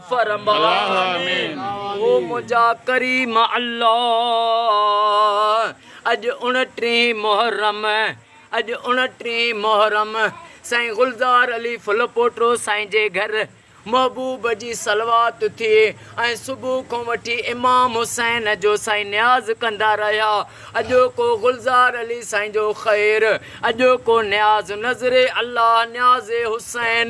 فرما او منهنجا ڪريم الله اڄ اڻٽيهين محرم اڄ اڻٽيهين محرم سائين گلزار علي ڦل پوٽو سائين جي گهر محبوب جي صلوات ٿئي ۽ صبح کان وٺي امام حسين جو سائين نياز ڪندا رهيا اڄوڪو گلزار علي سائين جو خير اڄوڪو نياز نذري الله نياز حسين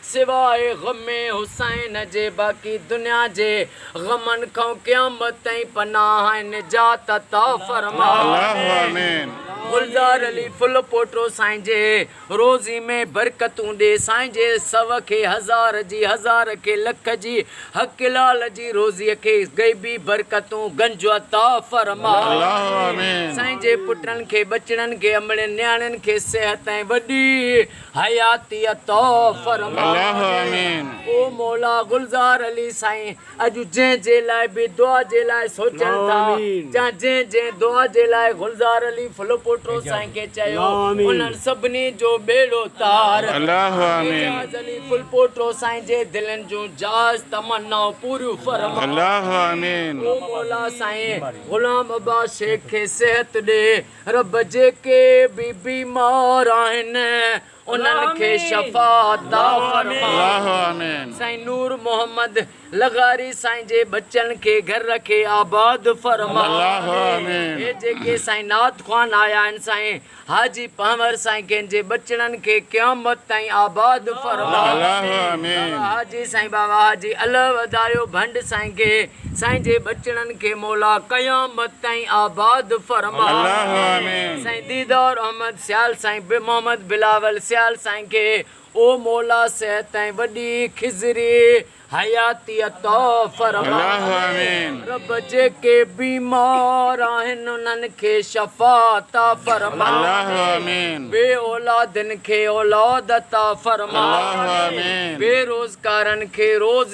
سواء غم حسين جي باقي دنيا جي غمن کان قيامت تائين پناهه ۽ نجات عطا فرماء. گلزار علي ڦل پوٽو سائين جي روضي ۾ برڪتون ڏي سائين جي سو کي هزار جي هزار کي لک جي حق لال جي روضي کي غيبي برڪتون گنج عطا فرماء سائين جي پٽن کي ٻچڙن کي امڙين نياڻين کي صحت ۽ وڏي حياتي عطا فرما او مولا گلزار علي سائين اڄ جنهن جي لاء به دعا جي لاء سوچن ٿا يا جنهن جنهن دعا جي لاء گلزار علي ڦل پوٽو سائين کي چيو انهن سڀني جو ٻيڙو تار اعجاز علي ڦل پوٽو سائين جي دلين جون جائز تمنائون پوريون فرما او مولا سائين غلام عباس شيخ کي صحت ڏي رب جيڪي به بيمار آهن انهن کي شفا عطا فرما سائين نور محمد لغاري سائين جي ٻچن کي گهر رکي آباد فرما هي جيڪي سائين نعت خوان آيا آهن سائين حاجي پنهور سائين کين جي ٻچڙن کي قيامت تائين آباد فرما حاجي سائين بابا حاجي الهه ودايو ڀنڊ سائين کي سائين جي ٻچڙن کي مولا قيامت تائين آباد فرماء سائين ديدار احمد سيال سائين محمد بلاول سيال سائين کي او مولا صحت ۽ وڏي خضري حياتي عطا فرماء رب جيڪي بيمار آهن انهن کي شفا عطا فرماء بي اولادن کي اولاد عطا فرماء بي روزگارن کي روز